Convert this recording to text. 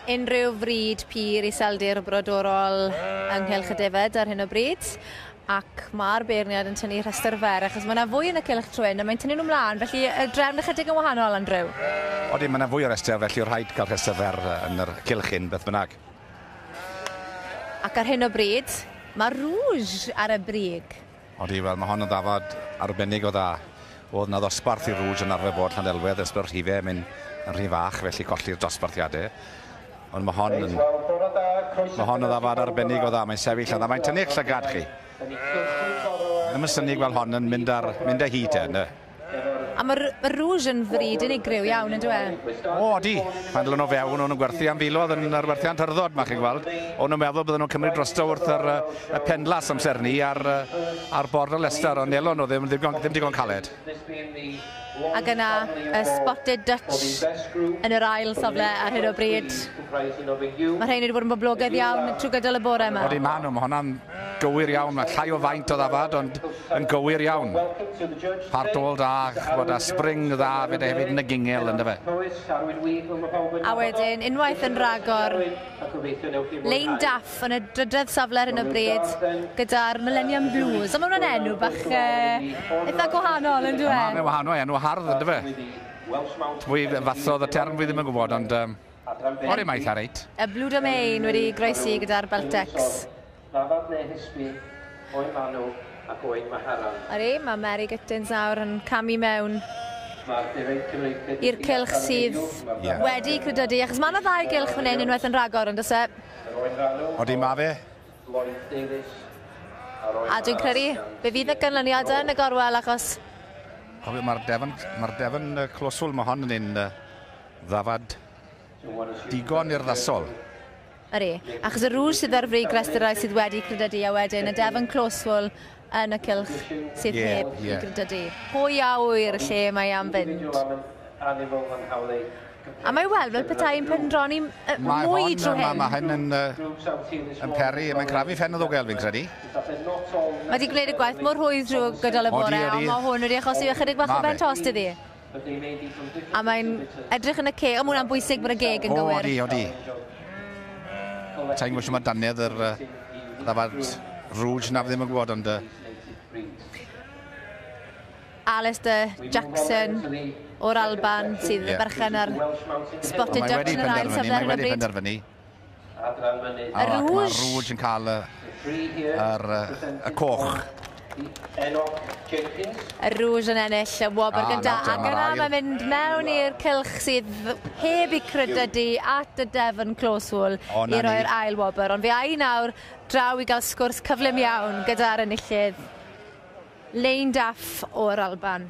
unrhyw fryd pur i seldir brodorol ynghylch y defed ar hyn o bryd ac mae'r beirniad yn tynnu rhestr fer, achos mae yna fwy yn y cylch trwyn, a mae'n tynnu nhw mlaen, felly y drefn ychydig yn wahanol, Andrew. Oeddi, mae yna fwy o restr, felly o rhaid cael rhestr fer yn yr cylch hyn, beth bynnag. Ac ar hyn o bryd, mae Rouge ar y brig. Odi, wel, mae hon yn ddafad arbennig o dda. Oedd yna ddosbarth i Rouge yn arfer bod Llanelwedd ers bod y rhifau yn mynd yn rhy fach, felly colli'r dosbarthiadau. Ond mae hon yn... Mae hon yn ddafad arbennig o dda, mae'n sefyll a dda, mae'n tynnu eich llygad chi. Ddim yn synnu gweld hon yn mynd ar mynd â hi te, ynde? A mae'r ma Rouge yn fryd unigryw iawn, yn dweud? E? O, di. Mae'n dlwn o fewn, o'n nhw'n gwerthu am filodd yn yr werthiant hyrddod, mae chi'n gweld. O'n nhw'n meddwl bydden nhw'n cymryd drosto wrth yr, y penlas amser ni ar, ar bord o Leicester, ond nelon nhw ddim, ddim, ddim digon caled. Ac yna, y Spotted Dutch yn yr ail safle ar hyn o bryd. Mae rhain wedi bod yn boblogaidd iawn trwy gydol y bore yma. Wedi maen nhw, mae hwnna'n Gywir iawn, mae llai o faint o ddafad ond yn gywir iawn. Part all da, ch'bod a spring dda fyd e hefyd yn y gingel ynda fe. A wedyn unwaith yn rhagor, Lein Daff yn y drydedd safle ar hyn o bryd gyda'r Millennium Blues. Ond mae hwnna'n enw bach e, eitha gwahanol yndyw e? Mae'n wahanol, enw hardd yndyfe. Pwy fathodd y term fi ddim yn gwybod ond yym. Bore maith Harriet. Y Blue Domain wedi groesi gyda'r Beltecs. Ddafad neu hysbi, o'i manw ac o'i maharan. Ydy, mae Mary Gittins nawr yn camu mewn i'r cylch sydd yeah. wedi credydu, achos mae yna ddau gylch fan hyn, unwaith yn rhagor, ond ose? Odi, mae fe. A dwi'n credu, fe fydd y gynlyniad yn y gorwel, achos... Mae'r Devon, mae Devon Closwell, mae hon yn un Ddafad. Digon urddasol. Yr e. Achos y rŵl sydd ar frig restyrai sydd wedi credydu a wedyn y defn closeful yn y cylch sydd Ie, heb i ie. gredydu. Pwy a ŵyr lle mae am fynd? Dwi'n gwybod mae'n annifol fy nghawl i. A mae weld fel petai yn pendroni m- yy Mae mwy hon, drwy ma' hyn. ma' hyn yn yy, yn peri, mae'n crafu ffen y ddwgel fi'n credu. Mae di gwneud y gwaith mor rhwydd drwy gydol y bore, ond mae hwn wedi achosi ychydig bach o ben tost iddi. A mae'n edrych yn y ceg. O, mae hwnna'n bwysig bod y geg yn gywir. O, di, o, di. Ta'n gwybod mae daniad yr uh, ddafad rwj na ddim yn gwybod, ond... Uh... Alistair Jackson o'r Alban sydd yeah. berchen ar spotted ducks yn yr ail safle ar y bryd. Mae wedi penderfynu. Adran mynydd. Y Rouge. Mae'r Rouge yn cael y, yr, y coch. Y Rouge yn ennill y wobr ah, gyntaf ac yna mae'n mynd mewn i'r cylch sydd heb i credydu at y Devon Close Wool i roi'r ail wobr. Ond fe ai nawr draw i gael sgwrs cyflym iawn gyda'r enillydd Lane Daff o'r Alban.